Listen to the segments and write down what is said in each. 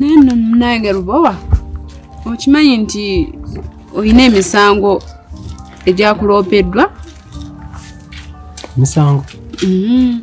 naye nno munange lubowa okimanyi nti olina emisango egyakuloopeddwa misango mm-hmm.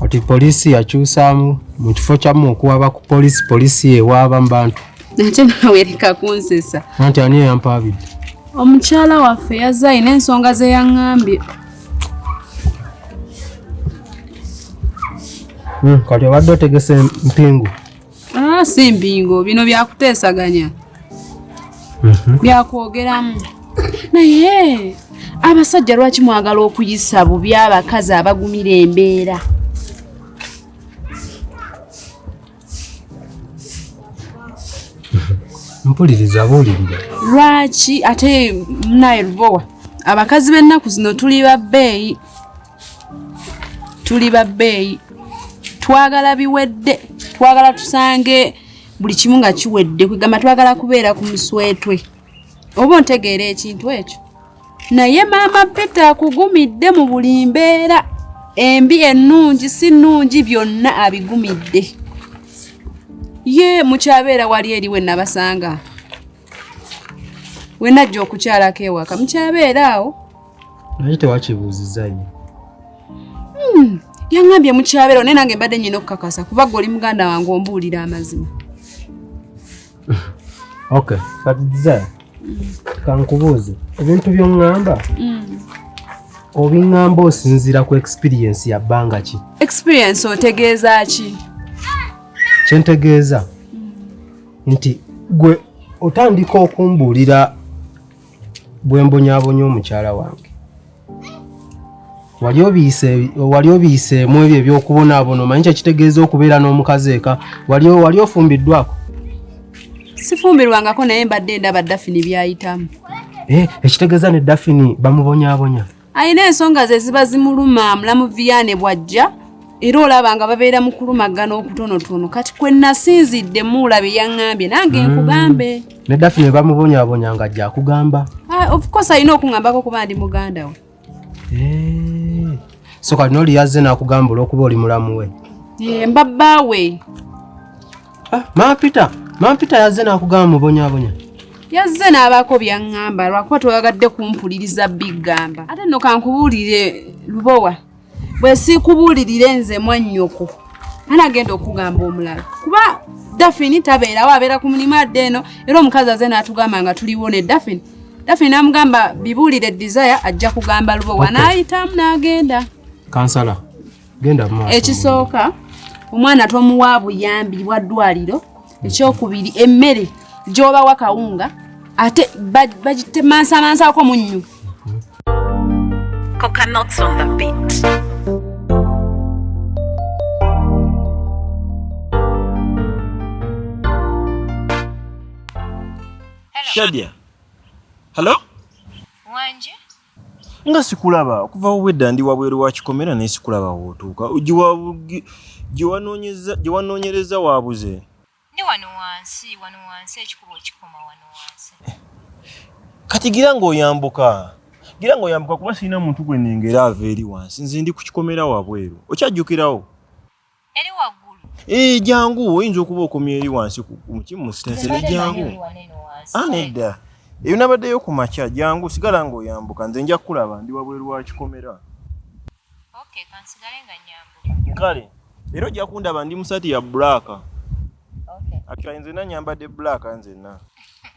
kati poliisi yakyusaamu mu kifo kyamu okuwaba ku poliisi poliisi yewaaba mu bantu ate nawereka kunsesa anti ani eyampaabidde omukyala waffe yazze alina ensonga zeyaŋambye Hmm, kati obadde otegese mpingu ah, si mpingu bino byakuteesaganya mhm. byakwogeramu naye abasajja lwaki mwagala okuyisa bubi abakazi abagumira embeera mpuliriza buulirira lwaki ate munaye lubowa abakazi b'ennaku zino tuli babbeeyi tuli babbeeyi twagala biwedde twagala tusange buli kimu nga kiwedde kwegamba twagala kubeera ku muswetwe oba ontegeera ekintu ekyo naye maama peter akugumidde mu buli mbeera embi ennungi si nnungi byonna abigumidde ye mukyabeera wali eri we nabasanga we najja okukyalako ewaka mukyabeera awo naye tewakibuuzizayo hmm, yaŋambye mukyabeera naye nange mbadde nyina okukakasa kuba gwe oli muganda wange ombuulira amazima Okay, kati Desire, kankubuuze ebintu by'oŋŋamba mm. obiŋŋamba osinziira ku experience ya bbanga ki? Experience otegeeza ki? Kye ntegeeza mm. nti gwe otandika okumbuulira bwe mbonyabonya omukyala wange wali obiyiseemu ebyo ebyokubonaabona omanyi kyekitegeeza okubeera n'omukazi eka wali ofumbiddwako sifumbirwangako naye mbadde ndaba dafini byayitamu eh, ekitegeeza ne dafini bamubonyabonya alina ensonga ze ziba zimuluma mulamu viyaane bw'ajja era olaba nga babeera mu kulumagana okutonotono kati kwe nasinzidde muula bye yaŋŋambye nange hmm. nkugambe ne dafi ne bamubonyabonya nga ajja akugamba ah, ofcourse alina okuŋambako kuba ndi muganda we eh. so kati nooli yazze n'akugamba olwokuba oli mulamu we eh, mbabba we Ah, Mama Peter, Mama Peter yazze n'akugamba mubonyabonya. Yazze n'abaako by'aŋŋamba lwakuba twagadde kumpuliriza biggamba. Ate nno kankubuulire Lubowa, bwe siikubuulirire nze mwannyoko ani agenda okugamba omulala kuba dafini tabeerawo abeera ku mulimu adde eno era omukazi aze n'atugamba nga tuliwo ne dafini dafini n'amugamba bibuulire desire ajja kugamba Lubowa n'ayitamu n'agenda kansala genda mu ekisooka omwana tomuwa buyambi bwa ddwaliro ekyokubiri emmere gyobawa kawunga ate bagitemansamansaako munnyu coconuts on the beat Shadia. Hello? Wanje? nga sikulaba okuva obwedda ndi wabweru wa kikomera naye sikulaba wootuuka gye wanoonyereza waabuze ndi wano wansi wano wansi ekikuba okikoma wano wansi kati gira ng'oyambuka gira ng'oyambuka kuba sirina muntu gwe nengera ava eri wansi nze ndi ku kikomera wabweru okyajjukirawo Eri waggulu. Eh, jangu oyinza okuba okomya eri wansi ku mukimu mu sitasi ne jangu. Ah, nedda. Eyo nabaddeyo ku makya jangu sigala ng'oyambuka nze nja kukulaba ndi wabweru wa kikomera. Okay, kansigale nga nyambuka. Kale. Era ojja kundaba ndi mu sati ya black. Okay. Akira nze na nyambadde black nze na.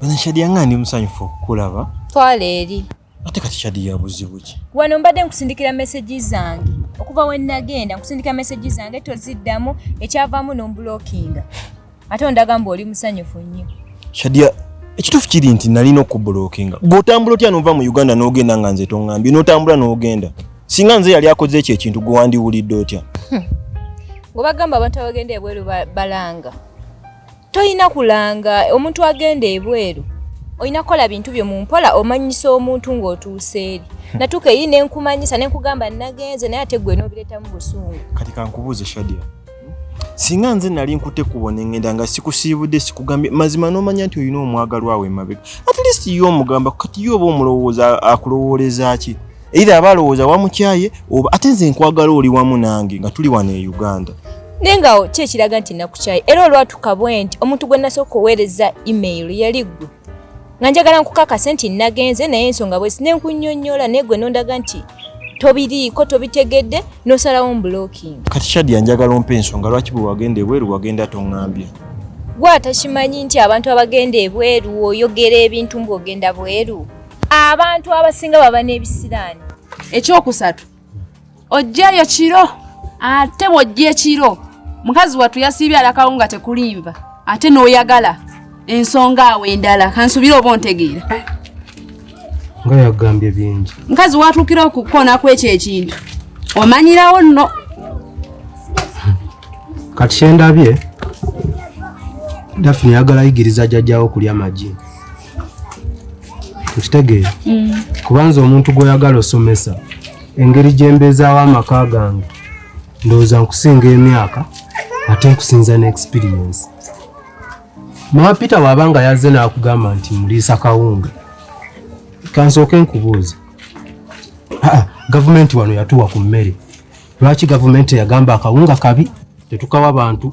Bana Shadia nga ndi musanyufu okukulaba. Twala eri. Ate kati Shadia buzibu ki? Wano mbadde nkusindikira message zange. Okuva we nagenda nkusindika message zange toziddamu ekyavaamu n'ombulookinga. Ate ondaga mbu oli musanyufu nnyo. Shadia ekituufu kiri nti nalina okubulookinga. Bw'otambula otya n'ova mu Uganda n'ogenda nga nze tongambye n'otambula n'ogenda. Singa nze yali akoze ekyo ekintu gwe wandiwulidde otya? Hmm. Ng'obagamba abantu abagenda ebweru balanga. tolina kulanga omuntu agenda ebweru olina kukola bintu byo mu mpola omanyisa omuntu ng'otuuse eri natuuka eyi ne nkumanyisa ne nkugamba nagenze naye ate gwe n'obireetamu busungu kati kankubuuze shadia singa nze nali nkute kubo nengenda nga sikusiibudde sikugambye mazima n'omanya nti olina omwagalwawo emabega at least ye omugamba kati ye oba omulowooza akulowoolezaaki either aba alowooza wamukyaye oba ate nze nkwagala oli wamu nange nga tuli wano e uganda naye nga ki ekiraga nti nakukyaye era olwatuka bwe nti omuntu gwe nasooka oweereza email yali gwe nga njagala nkukakase nti nagenze naye ensonga bwesi nenkunyonyola naye gwe nondaga nti tobiriiko tobitegedde nosalawo mblocking kati shadia njagala ompa ensonga lwaki bwe wagenda ebweru wagenda tongambye gwe atakimanyi nti abantu abagenda ebweru oyogera ebintu mbu ogenda bweru abantu abasinga baba n'ebisiraani ekyokusatu ojjayo kiro ate bwojja ekiro mukazi wattu yasiibye alakawo nga tekulimba ate n'oyagala ensonga awo endala kansubire oba ontegeera eh, nga yagambye bingi mukazi watuukira okukoona kwekyo ekintu omanyirawo nno kati kyendabye dafina yagala yigiriza jajjawo okulya amagi okitegeera mm. kubanza omuntu gwoyagala osomesa engeri gyembeezaawo amaka gange ndowooza nkusinga emyaka ate nkusinza ne experience mama peter waaba nga yazze naakugamba nti muliisa kawunga kansooke nkubuuza gavumenti wano yatuwa ku mmere lwaki gavumenti eyagamba akawunga kabi tetukawa bantu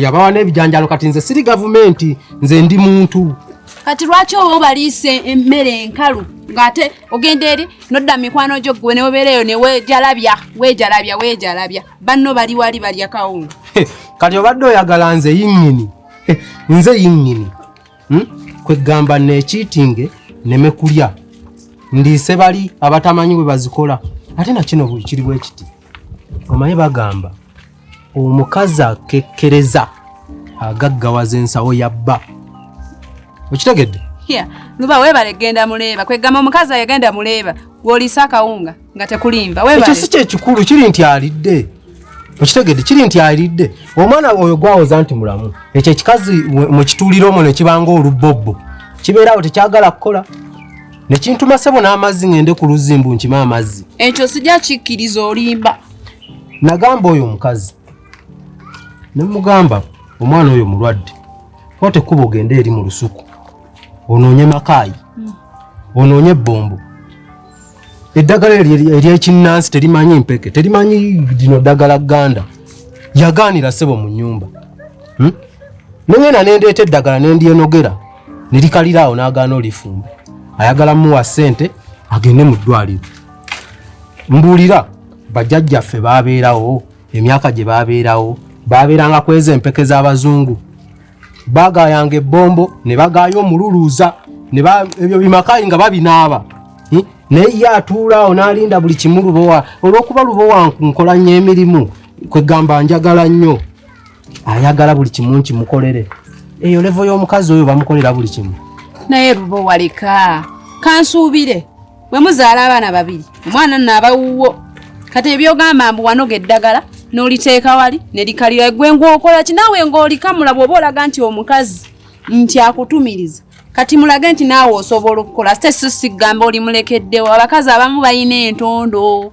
yabawa n'ebijanjalo kati nze siri gavumenti nze ndi muntu kati lwaki oba obaliise emmere enkalu ng'ate ogenda eri nodda mikwano gyo gwe neobeereyo newejalabya wejalabya wejalabya banno bali wali balya kawunga kati obadde oyagala nze yinyini nze yinyini hmm? kwegamba nekiitinge neme kulya ndiise bali abatamanyi bwe bazikola ate nakino bwekiri bwekiti omaye bagamba omukazi akekkereza agaggawaza ensawo ya bba okitegedde luba webale genda muleeba kwegamba omukazi ayagenda muleeba gwoliisa akawunga nga tekulimba ekyo si kyekikulu kiri nti alidde okitegedde kiri nti alidde omwana oyo gwawoza nti mulamu ekyo ekikazi mukitulira omwo nekibanga olubbobbo kibeerawo tekyagala kukola nekintuma sebo n'amazzi ngende ku luzimbu nkima amazzi ekyo sijja kikkiriza olimba Nagamba oyo omukazi ne mugamba omwana oyo mulwadde kwata ekkubo ogende eri mu lusuku onoonye makaayi hmm. onoonye ebbombo eddagala eryekinnansi terimanyi mpeke terimanyi lino ddagala gganda yagaanira ssebo mu nnyumba hmm? nengenda nendeeta eddagala nendyenogera nerikaliraawo n'agaana olifumba ayagala muwa ssente agende mu ddwaliro mbuulira bajjajjaffe baabeerawo emyaka gye baabeerawo baabeeranga ku ezo empeke z'abazungu bagaayanga ebbombo ne bagaaya omululuuza ebyo bimakayi nga babinaaba hm? naye ye atuulaawo n'alinda buli kimu lubowa olw'okuba lubowa nkola nnyo emirimu kwegamba njagala nnyo ayagala buli kimu nkimukolere eyo levo y'omukazi oyo bamukolera buli kimu naye lubowa leka kansuubire bwe muzaala abaana babiri omwana nno abawuwo kati ebyogamba mbu wanoga eddagala n'oliteeka wali ne likalira gwe ng'okola ki naawe ng'olikamula bw'oba olaga nti omukazi nti akutumiriza kati mulage nti naawe osobola okukola site si sigamba olimulekeddewo abakazi abamu balina entondo